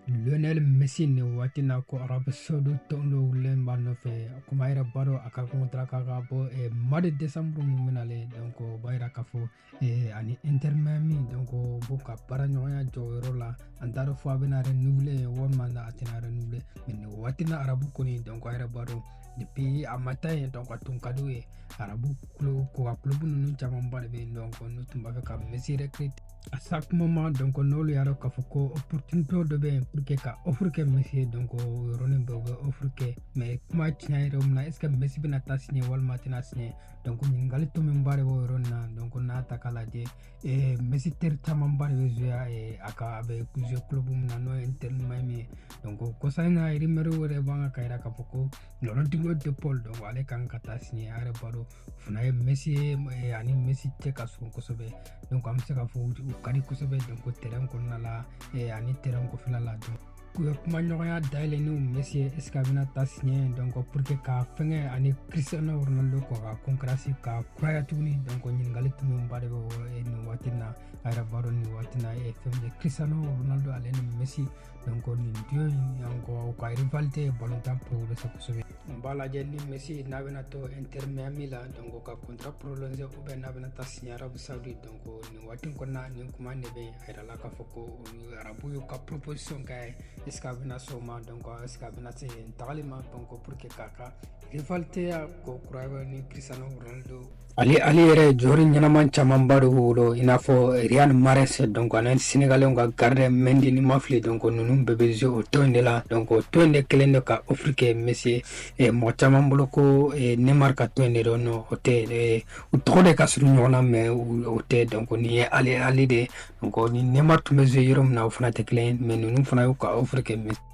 lionel messi nin waati na ko arabu saudi tɔn dɔ wulilen b'a nɔfɛ komi a yɛrɛ b'a dɔn a ka contrat kan ka ban eh, mois de décembre mun bɛ na le donc o b'a yira k'a fɔ eh, ani inter miami donc o b'u ka baara ɲɔgɔnya jɔ o yɔrɔ la an t'a dɔn fo a bɛna renouveler walima a tɛna renouveler mais nin waati na arabu kɔni donc a yɛrɛ b'a dɔn depuis a ma taa yen donc a tun ka di u ye arabu kulo ko ka club ninnu camanba de bɛ yen donc n'u tun b'a fɛ ka messi recrute à chaque moment donc n'olu y'a dɔn k'a fɔ ko opportunité dɔ bɛ yen pour que ka offre kɛ messi ye donc o yɔrɔnin bɛɛ u bɛ offre kɛ mais kuma tiɲɛ yɛrɛ mun na est ce que messi bɛna taa signé walima a tɛna signé donc ɲininkali tomiba de b'o yɔrɔ nin na donc n'a ta k'a lajɛ eh, messi teri camanba de bɛ jouer eh, a ka a bɛ jouer club min na n'o ye inter miami ye donc o kɔsa in na rumeur yɛrɛ b'a kan k'a yira k'a fɔ ko rodrigo de paul donc ale kan ka taa signé a yɛrɛ b'a dɔn fana ye messi ye ani messi cɛ ka surun kosɛbɛ donc an bɛ se ka fɔ u ka di kosɛbɛ donc tɛrɛn kɔnɔna la ani tɛrɛn kɔfɛla la donc u ye kuma ɲɔgɔnya dayɛlɛ ni messi ye est ce que a bɛna taa signé donc pour que ka fɛnkɛ ani cristiano ronaldo k'u ka concurrence ka kuraya tuguni donc ɲininkali tomiba de bɛ nin waati na a yɛrɛ b'a dɔn nin waati na fɛn min ye cristiano ronaldo ale ni messi donc nin duo in encore u ka rivalité ye balontan progressé kosɛbɛ an b'a lajɛ ni messi n'a bɛna to inter miami la donc ka contrat prolongé ou bien n'a bɛna taa signé arabu saudi donc nin waati kɔnɔna nin kuma ne bɛ a yira la k'a fɔ ko arabu y'u ka proposition kɛ est ce que a bɛna sɔn o ma donc est ce que a bɛna sɔn yen tagali ma donc pour que k'a ka rivalité ya kokura ni cristiano ronaldo Al Ahli yɛrɛ joueur ɲɛnaman camanba de b'o bolo i n'a fɔ Riyad Mahrez donc ani Senegalɛnw ka gardien Mendy ni n ma fili donc ninnu bɛɛ bɛ jouer o tɔn in de la donc o tɔn in de kɛlen don ka offre kɛ Messi ye eh, mɔgɔ caman bolo ko eh, Neymar ka tɔn in de don non o tɛ eh, u tɔgɔ de ka surun ɲɔgɔn na mais o tɛ donc nin ye Al Ahli de ye donc ni Neymar tun bɛ jouer yɔrɔ min na o fana tɛ kelen ye mais ninnu fana y'u ka offre kɛ Messi ye